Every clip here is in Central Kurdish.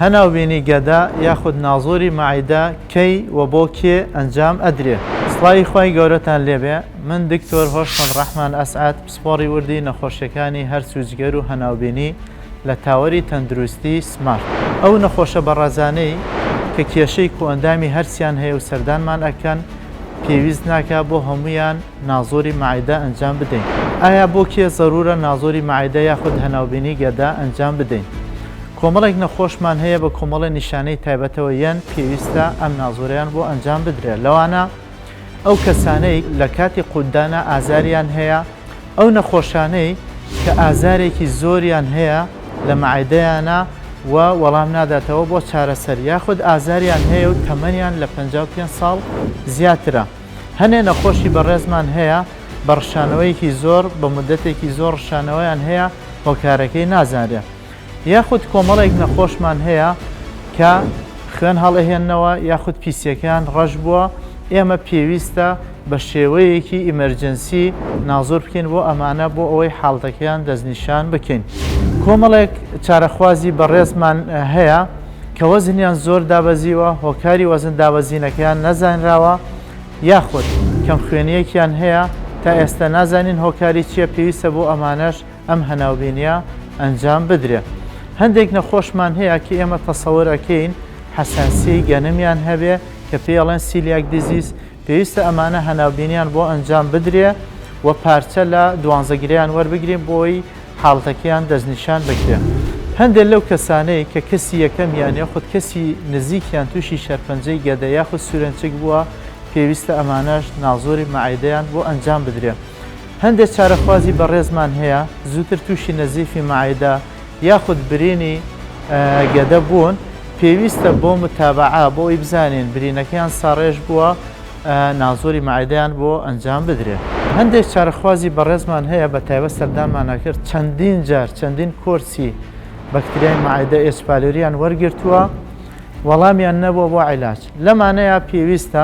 هەناوبینی گەدە یاخود نازۆری مەعیدە کەی و بۆ کێ ئەنجام ئەدرێ؟ سڵاوی خوای گەورەتان لێبێ من دکتۆر هۆشمەند ڕەحمان ئەسعەد پسپۆڕی وردی نەخۆشیەکانی هەرس و جگەر و هەناوبینی لە تاوەری تەندروستی سمارت. ئەو نەخۆشە بەڕەزانەی کە کێشەی کۆئەندامی هەرسیان هەیە و سەردانمان ئەکەن پێویست ناکا بۆ هەموویان نازۆری مەعیدە ئەنجام بدەین؟ ئایا بۆ کێ زەرورە نازۆری مەعیدە یاخود هەناوبینی گەدە ئەنجام بدەین؟ کۆمەڵێک نەخۆشمان هەیە بە کۆمەڵێ نیشانەی تایبەتەوە یەن پێویستە ئەم نازۆرەیان بۆ ئەنجام بدرێت لەوانە ئەو کەسانەی لە کاتی قوتدانا ئازاریان هەیە ئەو نەخۆشانەی کە ئازارێکی زۆریان هەیە لە مەعدەیانە و وەڵام ناداتەوە بۆ چارەسەر یاخود ئازاریان هەیە و تەمەنیان لە پەنجا و پێنج ساڵ زیاترە هەنێ نەخۆشی بەڕێزمان هەیە بە ڕشانەوەیەکی زۆر بە مودەتێکی زۆر ڕشانەوەیان هەیە هۆکارەکەی نازانرێت یاخود کۆمەڵێک نەخۆشمان هەیە کە خوێن هەڵئەهێننەوە یاخود پیسیەکەیان ڕەش بووە ئێمە پێویستە بە شێوەیەکی ئیمەرجنسی نازۆر بکەین بۆ ئەمانە بۆ ئەوەی حاڵتەکەیان دەستنیشان بکەین کۆمەڵێک چارەخوازی بەڕێزمان هەیە کە وەزنیان زۆر دابەزیوە هۆکاری وەزن دابەزینەکەیان نەزانراوە یاخود کەم خوێنیەکیان هەیە تا ئێستا نازانین هۆکاری چیە پێویستە بۆ ئەمانەش ئەم هەناوبینییە ئەنجام بدرێت. هەندێک نەخۆشمان هەیە کە ئێمە تەسەور ئەکەین حەساسیەی گەنمیان هەبێ کە پێی ئەڵێن سیلیاک دیزیز، پێویستە ئەمانە هەناوبینیان بۆ ئەنجام بدرێ و پارچە لە دوانزەگرەیان وەربگرین بۆی حاڵتەکەیان دەستنیشان بکرێ. هەندێک لەو کەسانەی کە کەسی یەکەمیان یاخود کەسی نزیکیان تووشی شەرپەنجەی گەدە یاخود سورێنچک بووە، پێویستە ئەمانەش نازۆری مەعدەیان بۆ ئەنجام بدرێ. هەندێک چارەخوازی بەڕێزمان هەیە زووتر تووشی نەزیفی مەعدە یاخود برینی گەدە بوون، پێویستە بۆ متابەعە بۆ ئەوی بزانین برینەکەیان ساڕێژ بووە نازۆری مەعدەیان بۆ ئەنجام بدرێت. هەندێک چارەخوازی بەڕێزمان هەیە بە تایبەت سەردانمان ئەکرد چەندین جار چەندین کۆرسی بەکتریای مەعدە ئێچ پالۆریان وەرگرتووە وەڵامیان نەبووە بۆ عیلاج لەمانەیە پێویستە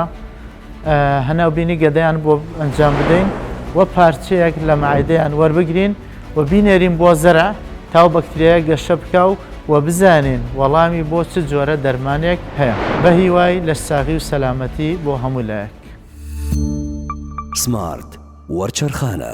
هەناوبینی گەدەیان بۆ ئەنجام بدەین و پارچەیەک لە مەعدەیان وەربگرین و بینێرین بۆ زەرع تا و بەکتریایە گەشە بکاو و بزانین وەڵامی بۆ چ جۆرە دەرمانێک هەیە بە هیوای لەش ساغی و سەلامەتی بۆ هەموو لایەک. سمارت وەرچەرخانە.